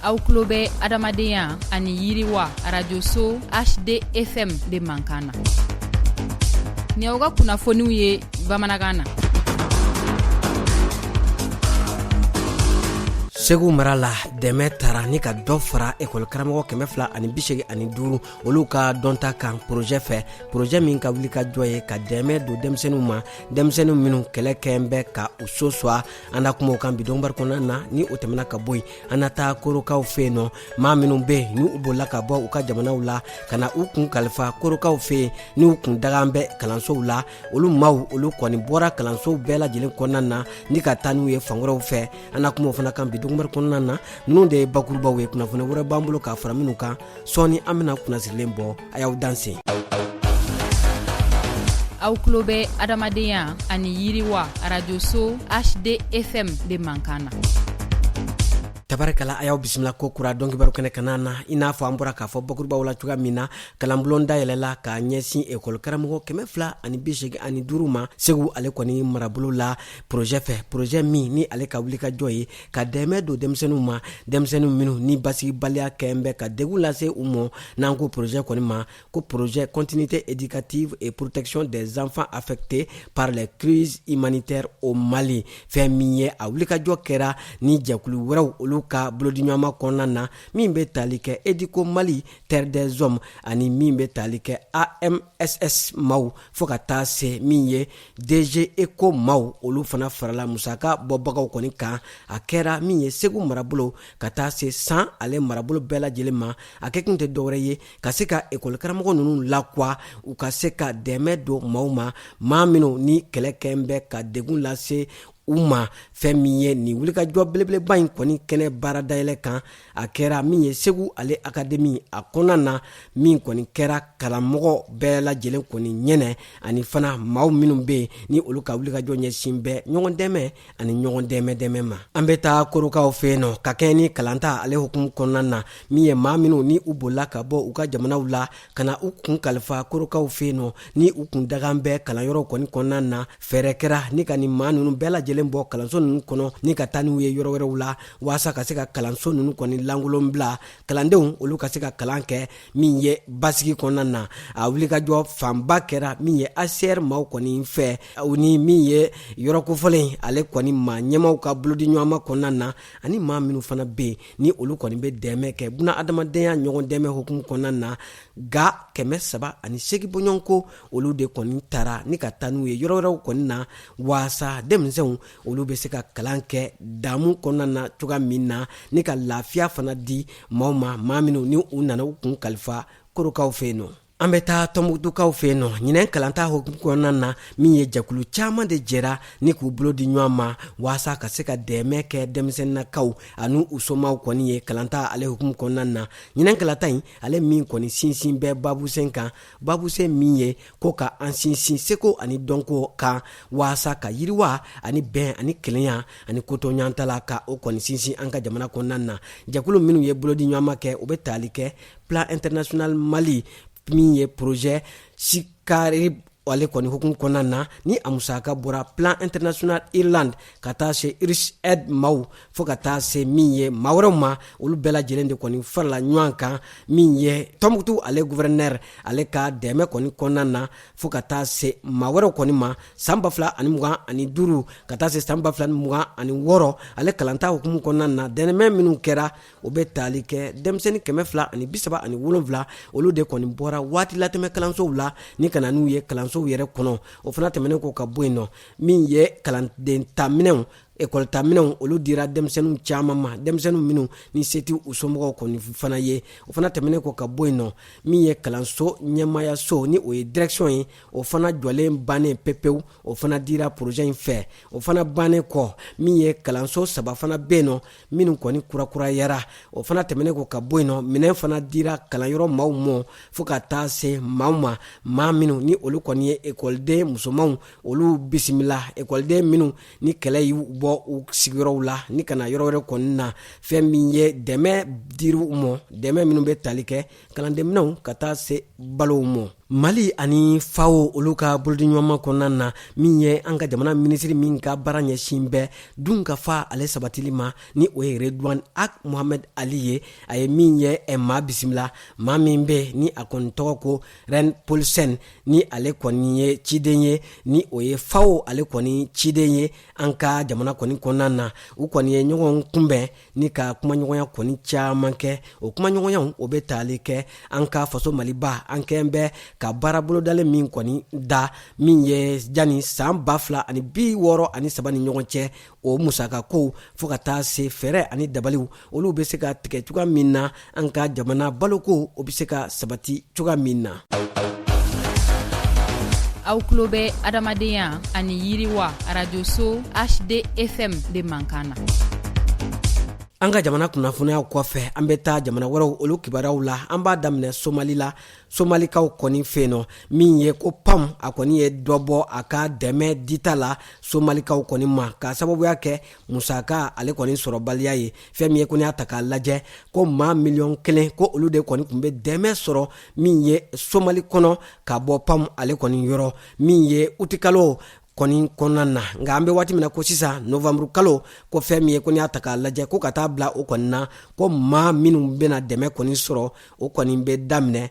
aw tulo bɛ adamadenya ani yiriwa arajoso hdfm de mankan na ni aw ka kunnafoniw ye bamanankan na segu mara la dɛmɛ tara ni ka dɔ fara ekɔlikaramɔgɔ kɛmɛ fila ani bisegi ani duuru olu ka dɔnta kan porozɛ fɛ porozɛ min ka wulikajɔ ye ka dɛmɛ don denmisɛnninw ma denmisɛnninw minnu kɛlɛ kɛn bɛ ka u so swa an na kuma o kan bi dɔnkibaru kɔnɔna na ni o tɛmɛna ka bɔ yen an na taa korokaw fɛ yen nɔ maa minnu bɛ yen ni u bolila ka bɔ u ka jamanaw la ka na u kun kalifa korokaw fɛ yen ni u kun dagan bɛ kalansow la olu maaw olu kɔni bɔra kalansow bɛɛ lajɛlen kɔnɔna na ni ka taa n'u ye fan wɛrɛw fɛ an na kuma o fana kan bi dɔnkibaru kɔnɔna na ninnu de ye bakurubaw ye kunnafoni wɛrɛ b'an bolo k'a fara ninnu kan sɔɔni an bɛna kunnasirilen bɔ a y'aw danse aw tulo bɛ adamadenya ani yiriwa arajoso hdfm de mankan na tabarikala a y'aw bisimila ko kura dɔnkibaru kɛnɛ kan na i n'a fɔ an bɔra k'a fɔ bakurubaw la cogoya min na kalanbulon dayɛlɛla ka ɲɛsin ekɔli karamɔgɔ kɛmɛ fila ani bisegi ani duuru ma segu ale kɔni marabolo la porozɛ fɛ porozɛ min ni ale ka wulikajɔ ye ka dɛmɛ don denmisɛnninw ma denmisɛnninw minnu ni basigibaliya kɛn bɛ ka degun lase u mɔ n'an ko projet kɔni ma ko projet continuité éducative et protection des enfants affectés par les crises humanitaires au mali fɛn min ye a wulikajɔ kɛra ni jɛkulu wɛrɛw olu ka bolodiɲɔgɔnma kɔnɔna na min bɛ tali kɛ educo mali terre des hommes ani min bɛ tali kɛ amss maaw fo ka taa se min ye DG ECHO maaw olu fana farala musaka bɔbagaw kɔni kan, a kɛra min ye Segu marabolo ka taa se San ale marabolo bɛɛ lajɛlen ma, a kɛ kun tɛ dɔwɛrɛ ye ka se ka école karamɔgɔ ninnu lakua, u ka se ka dɛmɛ don maaw ma, maa minnu ni kɛlɛ kɛn bɛ ka degun lase u ma, fɛn min ye nin wulikajɔ belebeleba in kɔni kɛnɛ baara dayɛlɛ kan a kɛra min ye segu ale akademi a kɔnɔna na min kɔni kɛra kalanmɔgɔ bɛɛ lajɛlen kɔni ɲɛnɛ ani fana maaw minnu bɛ yen ni olu ka wulikajɔ ɲɛsin bɛ ɲɔgɔn dɛmɛ ani ɲɔgɔn dɛmɛ dɛmɛ ma an bɛ taa korokaw fɛ yen nɔ ka kɛɲɛ ni kalanta ale hukumu kɔnɔna na min ye maa minw ni u bolila ka bɔ u ka jamanaw la ka na u kun kalifa korokaw fɛ yen nɔ ni u kun dagan bɛ kalanyɔrɔw kɔni kɔnɔna na fɛɛrɛ kɛra ni ka nin maa nunu bɛɛ lajɛlen bɔ kalanso nunu kɔnɔ ni ka taa n'u ye yɔrɔ wɛrɛw la waasa ka se ka kalanso nunu kɔni lankolon bila kalandenw olu ka se ka kalan kɛ min ye basigi kɔnɔna na a wulikajɔ fanba kɛra min ye hcr maaw kɔni fɛ u ni min ye yɔrɔ kofɔlen ale kɔni maa ɲɛmaaw ka bolodiɲɔgɔnma kɔnɔna na ani maa minnu fana bɛ yen ni olu kɔni bɛ dɛmɛ kɛ buna adamadenya ɲɔgɔn dɛmɛ hukumu kɔnɔna na ga kɛmɛ saba ani segi bɔɲɔgɔnko olu de kɔni tara ni ka taa n'u ye yɔrɔ wɛrɛw kɔni na waasa denmisɛnw olu bɛ se ka kalan kɛ damu kɔnɔna na cogoya min na ni ka lafiya fana di maaw ma maa minnu ni u nana u kun kalifa korokaw fɛ yen nɔ an bɛ taa tɔnbukutukaw fɛ yen nɔ ɲinɛn kalanta hukumu kɔnɔna na min ye jɛkulu caaman de jɛra ni k'u bolo di ɲɔgɔn ma waasa ka se ka dɛmɛ kɛ denmisɛnninakaw ani u somaw kɔni ye kalanta ale hukumu kɔnɔna na ɲinɛn kalanta in ale min kɔni sinsin bɛ babusen kan babusen min ye ko ka an sinsin seko ani dɔnko kan waasa ka yiriwa ani bɛn ani kelenya ani kotoɲantala ka o kɔni sinsin an ka jamana kɔnɔna na jɛkulu minnu ye bolodiɲɔgɔnma kɛ o bɛ tali kɛ plan international mali min ye projet sikari ale kɔni hukumu kɔnɔna na ni a musaka bɔra plan international irlande ka taa se irish aid maw fɔɔ ka taa se min ye maa wɛrɛw ma olu bɛɛ lajɛlen de kɔni farala ɲɔgɔn kan min ye tɔnbukutu ale guvɛrɛnɛri ale ka dɛmɛ kɔni kɔnɔnan na fɔɔ ka taa se maa wɛrɛw kɔni ma saan ba fila ani mugan ani duuru ka taa se saan ba fila ni mugan ani wɔɔrɔ ale kalanta hukumu kɔnɔnan na dɛmɛ minw kɛra o bɛ taali kɛ denmisɛni kɛmɛ fila ani bisaba ani wolonfila olu de kɔni bɔra waati latɛmɛ kalansow la ni ka na n'u ye kalansow yɛrɛ kɔnɔ o fana tɛmɛnen kɔ ka bɔ yen nɔ min ye kalanden ta minɛnw Ekɔli ta minɛn olu dira denmisɛnnin caman ma denmisɛnnin minnu ni se t'u somɔgɔw kɔni fana ye o fana tɛmɛnen kɔ ka bɔ yen nɔ min ye kalanso ɲɛmayaso ni o ye direction ye o fana jɔlen bannen pepewu o fana dira projet in fɛ o fana bannen kɔ min ye kalanso saba fana bɛ yen nɔ minnu kɔni kurakurayara o fana tɛmɛnen kɔ ka bɔ yen nɔ minɛn fana dira kalanyɔrɔ maaw ma fo ka taa se maaw ma maa minnu ni olu kɔni ye ekɔliden musomanw olu bisimila ekɔliden minnu ni kɛlɛ y'u bɔ u sigiyɔrɔw la ni ka na yɔrɔ wɛrɛ kɔni na fɛn min ye dɛmɛ dir'u ma dɛmɛ minnu bɛ tali kɛ kalandenminɛnw ka taa se balow ma mali ani fao olu ka bolodiɲɔgɔnma kɔnɔna na min ye an ka jamana minisiri min ka baara ɲɛsin bɛ dunkafa ale sabatili ma ni o ye redwan ag mohamɛd ali ye a ye min ye maa bisimila maa min bɛ ni a kɔni tɔgɔ ko rein paulsen ni ale kɔni ye ciden ye ni o ye fao ale kɔni ciden ye an ka jamana kɔni kɔnɔna na u kɔni ye ɲɔgɔn kunbɛn ni ka kumaɲɔgɔnya kɔni caman kɛ o kumaɲɔgɔnyaw o bɛ tali kɛ an ka faso maliba an kɛn bɛ ka baara bolodalen min kɔni da min ye jani saan ba fila ani bi wɔɔrɔ ani saba ni ɲɔgɔn cɛ o musaka ko fo ka taa se fɛɛrɛ ani dabaliw olu bɛ se ka tigɛ cogoya min na an ka jamana baloko o bɛ se ka sabati cogoya min na aw tulo bɛ adamadenya ani yiriwa arajoso hdfm de mankan na an ka jamana kunnafoniyaw kɔfɛ an bɛ taa jamana wɛrɛw olu kibaruyaw la an b'a daminɛ somali la somalikaw kɔni fɛ yen nɔ min ye ko pam a kɔni ye dɔ bɔ a ka dɛmɛ dita la somalikaw kɔni ma k'a sababuya kɛ musaka ale kɔni sɔrɔbaliya ye fɛn min ye ko n'i y'a ta k'a lajɛ ko maa miliyɔn kelen ko olu de kɔni tun bɛ dɛmɛ sɔrɔ min ye somali kɔnɔ ka bɔ pam ale kɔni yɔrɔ min ye utikalo kɔni kɔnɔna na nka an be waati min na ko sisan novanburu kalo ko fɛn min ye ko n'i y'a ta k'a lajɛ ko ka taa bila o kɔni na ko maa minw bɛna dɛmɛ kɔni sɔrɔ o kɔni be daminɛ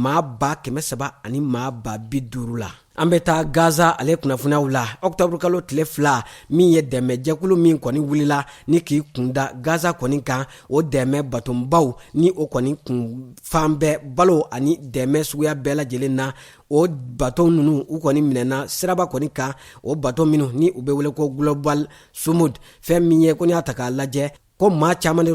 maa ba kɛmɛ saba ani maa ba bi duru la an bɛ taa gaza ale kunnafoniyaw la ɔkutɔburukalo tile fila min ye dɛmɛ jɛkulu min kɔni wulila ni k'i kunda gaza kɔni kan o dɛmɛ batonbaw ni o kɔni kun falen bɛ balo ani dɛmɛ suguya bɛɛ lajɛlen na o bato ninnu u kɔni minɛna siraba kɔni kan o bato minnu ni u bɛ wele ko global sumud fɛn min ye ko n'i y'a ta k'a lajɛ ko maa caman de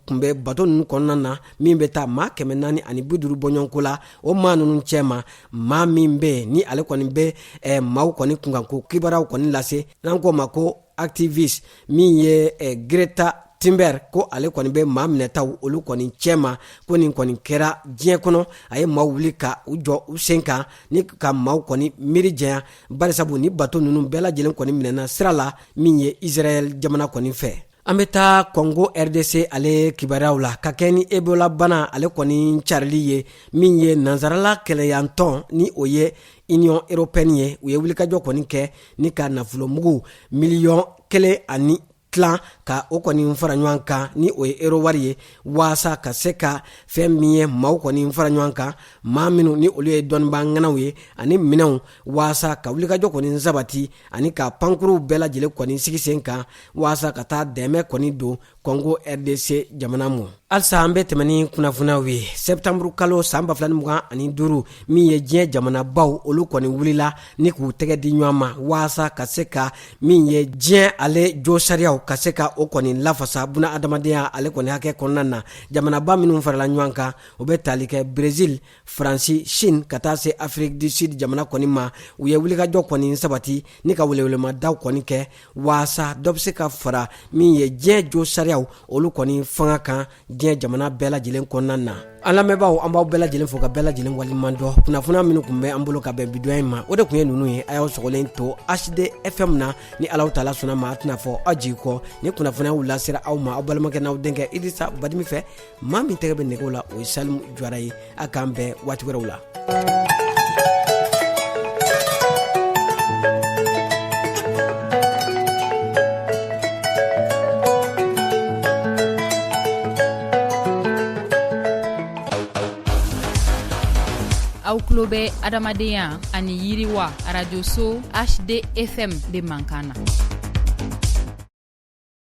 tun bɛ bato ninnu kɔnɔna na min bɛ taa maa kɛmɛ naani ani bi duuru bɔɲɔgɔnko la o maa ninnu cɛma maa min bɛ ni ale kɔni bɛ eh, maaw kɔni kunkanko kibaruyaw kɔni lase n'an k'o ma ko activiste min ye eh, Greta Thunberg ko ale kɔni bɛ maa minɛtaw olu kɔni cɛma ko nin kɔni kɛra diɲɛ kɔnɔ a ye maaw wuli ka u jɔ u sen kan ni ka maaw kɔni miiri jɛya barisabu ni bato ninnu bɛɛ lajɛlen kɔni minɛna sira la min ye Israɛl jamana kɔni fɛ an bɛ taa kɔngo rdc ale kibaruyaw la ka kɛɲɛ ni ebolabana ale kɔni carili ye min ye nansarala kelenyatɔn ni o ye Union européenne ye u ye wulikajɔ kɔni kɛ ni ka nafolomugu miliyɔn kelen ani tilan ka o kɔni fara ɲɔgɔn kan ni o ye euro wari ye waasa ka se ka fɛn min ye maaw kɔni fara ɲɔgɔn kan maa minnu ni olu ye dɔnnibaa ŋanaw ye ani minɛnw waasa ka wulikajɔ kɔni sabati ani ka pankuruw bɛɛ lajɛlen kɔni sigi sen kan waasa ka taa dɛmɛ kɔni don kɔngo rdc jamana ma halisa an be tɛmɛ ni kunnafoniyaw ye sɛptanburu kalo san ba fila ni mugan ani duuru min ye diɲɛ jamanabaw olu kɔni wulila ni k'u tɛgɛ di ɲɔgɔn ma waasa ka se ka min ye diɲɛ ale jo sariyaw ka se ka o kɔni lafasa buna adamadenya ale kɔni hakɛ kɔnɔna na jamanaba minw farala ɲɔgɔn kan o be tali kɛ brezil faransi chine ka taa se afiriki du sud jamana kɔni ma u ye wulikajɔ kɔni sabati ni ka welewelemadaw kɔni kɛ waasa dɔ be se ka fara min ye diɲɛ jo sariyaw olu kɔni fanga kan diɲɛ jamana bɛɛ lajɛlen kɔnɔna na an lamɛnbaaw an b'aw bɛɛ lajɛlen fo ka bɛɛ lajɛlen waliɲuman dɔn kunnafoniya minnu kun bɛ an bolo ka bɛn bidoya in ma o de kun ye nunu ye a y'aw sɔgɔlen to hd fm na ni alahu taala sɔnna ma a tɛna fɔ aw jigi kɔ nin kunnafoniyaw lasera aw ma aw balimakɛ n'aw denkɛ idrisa badimi fɛ maa min tɛgɛ bɛ nɛgɛw la o ye salimu jara ye a k'an bɛn waati wɛrɛw la aw tulo bɛ adamadenya ani yiriwa arajoso hd efɛn de mankan na